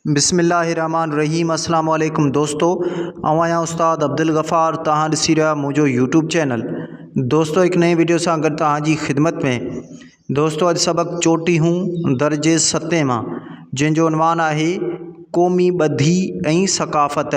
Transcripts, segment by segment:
بسم الله الرحمٰن الرحيم اسلام عليڪم دوستو آئون آهيان استاد عبدالغفار توهان ڏسي رهيا آهيو منهنجو يوٽيوب چينل دوستو هڪ نئين ويڊيو سان گڏ توهان جي خدمت ۾ دوستو اڄ سبق چوٽي هون درجي ستين مان جنهن جو عنوان آهي قومي ٻڌي ۽ ثقافت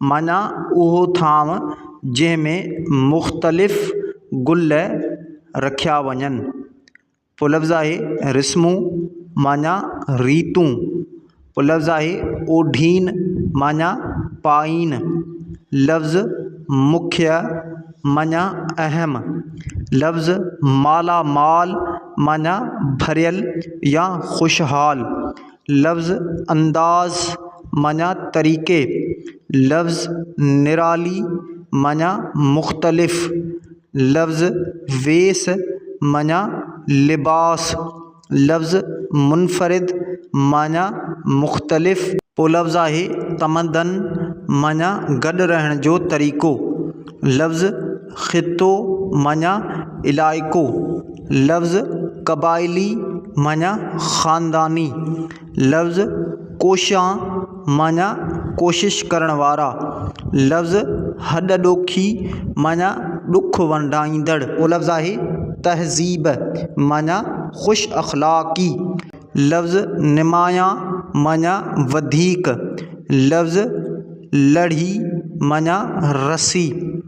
معنيٰ اهو ٿانو جنهن ۾ مختلف گل رکيا وڃن. پلفظ آهي رسمون معنيٰ ريتون. پلفظ آهي اوڍين معنيٰ پائين. لفظ مکيه معنيٰ اهم. لفظ مالا مال معنيٰ ڀريل يا خوشحال. لفظ انداز معنيٰ طريقي، لفظ نرالي معنيٰ مختلف، لفظ ويس معنيٰ لباس، لفظ منفرد معنيٰ مختلف، ٻيو لفظ آهي تمدن معنيٰ گڏ رهڻ جو طريقو، لفظ خطو معني علائقو، لفظ قبائلي معني خانداني، لفظ ڪوشان معني ڪوشش ڪرڻ وارا، لفظ هڏ ڏوکي معني ڏک ونڊائيندڙ. ٻيو لفظ آهي تهذيب معني خوش اخلاقي، لفظ نمايان معني وڌيڪ، لفظ لڙهي معني رسي.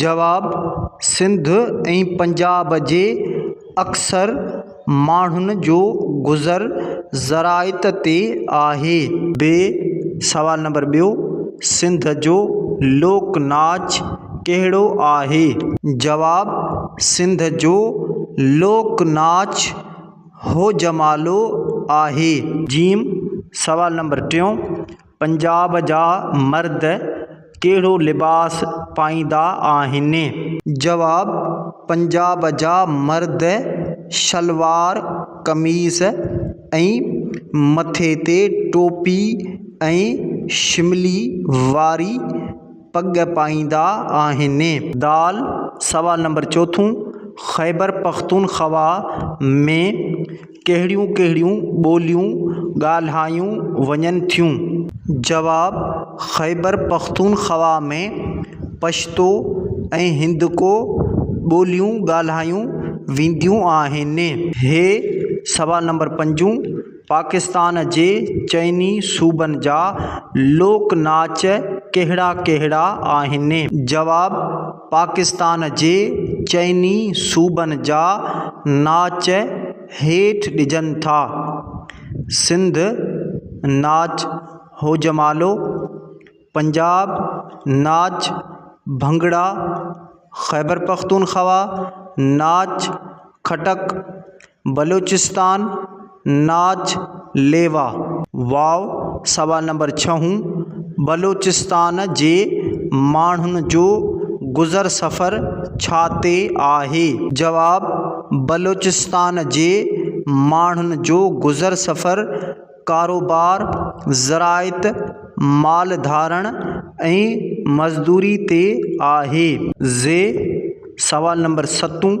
جواب، سنڌ ۽ پنجاب جي اڪثر ماڻهن جو گذر زراعت تي آهي. ب سوال نمبر ٻيو، سنڌ جو لوڪ ناچ ڪهڙو آهي؟ جواب، سنڌ جو لوڪ ناچ هوجمالو آهي. ج سوال نمبر ٽيون. پنجاب جا مرد ڪهڙو لباس پائيندا آهن؟ جواب، پنجاب جا مرد شلوار قميص ۽ مٿي تي ٽوپي ۽ شملي واري پڳ پائيندا آهن. دال، سوال نمبر چوٿون، خيبرپختونخوا ۾ ڪهڙيون ڪهڙيون ٻوليون ڳالهايون وڃن ٿيون؟ جواب، خيبرپختونخوا ۾ پشتو ۽ هندڪو ٻوليون ڳالهايون وينديون آهن. هي، سوال نمبر پنجون، پاڪستان جي چئني صوبن جا لوڪ ناچ ڪهڙا ڪهڙا آهن؟ جواب، پاڪستان جي چئني صوبن جا ناچ هيٺ ڏجن ٿا، سنڌ ناچ هوجمالو، پنجاب ناچ ڀنگڙا، خيبرپختونخوا ناچ کٽڪ، بلوچستان، ناچ ليوا. واء سوال نمبر ڇهون، بلوچستان جي ماڻهن جو گذر سفر ڇا تي آهي؟ جواب، بلوچستان جي ماڻهن جو گذر سفر ڪاروبار، زراعت، مال ڌارڻ ۽ مزدوري تي آهي. زي سوال نمبر ستون،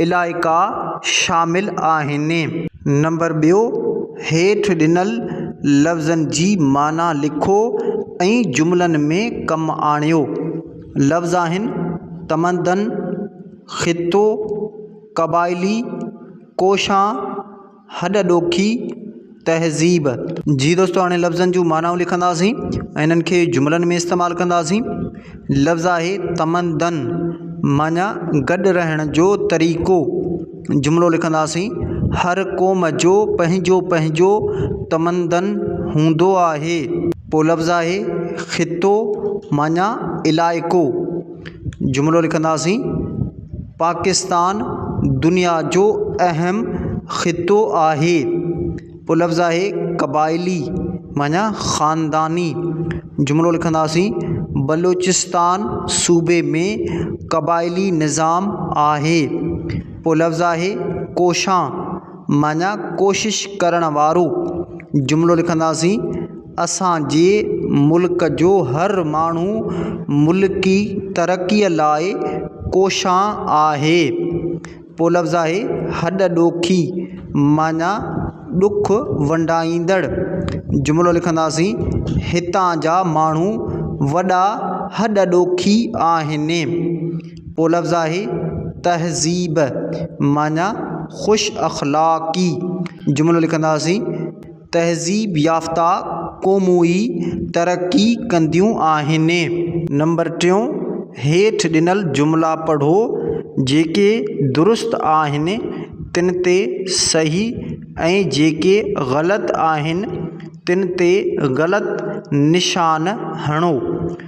علائقا شامل آهن. نمبر ٻيو، هيٺ ڏنل لفظن جي معنيٰ لکو ۽ جملن ۾ ڪم آڻيو. لفظ آهن، تمدن، خطو، قبائلي، ڪوشان، هڏ ڏوکي تهذيب جي دوستو هاڻي لفظن جون معنائون لکنداسين ۽ انهن کي جملن ۾ استعمال ڪنداسين لفظ آهي تمدن معنيٰ گڏ رهڻ جو طريقو جملو لکنداسين هر قوم جو پنهنجو پنهنجو تمدن هوندو آهي پوء لفظ آهي خطو معنيٰ علائقو جملو لکنداسين پاڪستان دنيا جو اهم خطو آهي پو لفظ آهي قبائلي معنيٰ خانداني جملو لکنداسين بلوچستان صوبي ۾ قبائلي نظام آهي پو لفظ آهي ڪوشان معنيٰ ڪوشش ڪرڻ وارو جملو لکنداسين اسانجي ملڪ جو هر ماڻهو ملڪي ترقي لاء ڪوشان آهي پو لفظ آهي هڏ ڏوکي معنيٰ ڏک ونڊائيندڙ جملو لکنداسين هتان جا ماڻهو وڏا هڏ ڏوکي آهن پولفظاهي تهذيب معنيٰ خوش اخلاقي جملو لکنداسين، تهذيب يافته قومون ئي ترقي ڪنديون آهن. نمبر ٽيون، هيٺ ڏنل جملا پڙهو، جيڪي درست آهن تن تي صحيح ۽ جيڪي غلط آهن تن تي غلط نشان هڻو.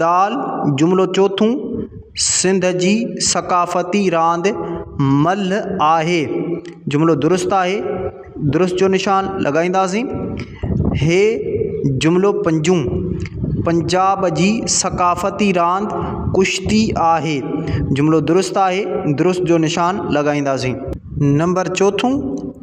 دال، جملو چوٿون، سنڌ جي ثقافتي راند ملهه آهي. جملو درست آهي، درست جو نشان لڳائينداسين. هي جملو پنجون، پنجاب جي ثقافتي راند ڪشتي آهي. جملو درست آهي، درست جو نشان لڳائينداسين. نمبر چوٿون.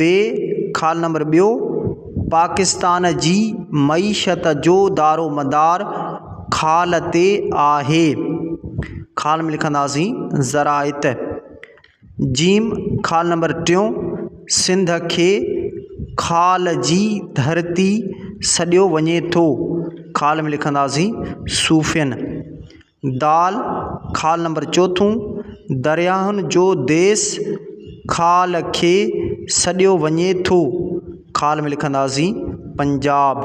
بي خال نمبر ٻيو پاڪستان جي معيشت جو دارومدار خال تي آهي خال ۾ لکنداسين زراعت جيم خال نمبر ٽيون سنڌ کي خال جي ڌرتي سڏيو وڃي ٿو خال ۾ لکنداسين صوفين دال، خال نمبر چوٿون، درياهن جو ديس خال کي سڏيو وڃي ٿو، خال ۾ لکنداسين پنجاب.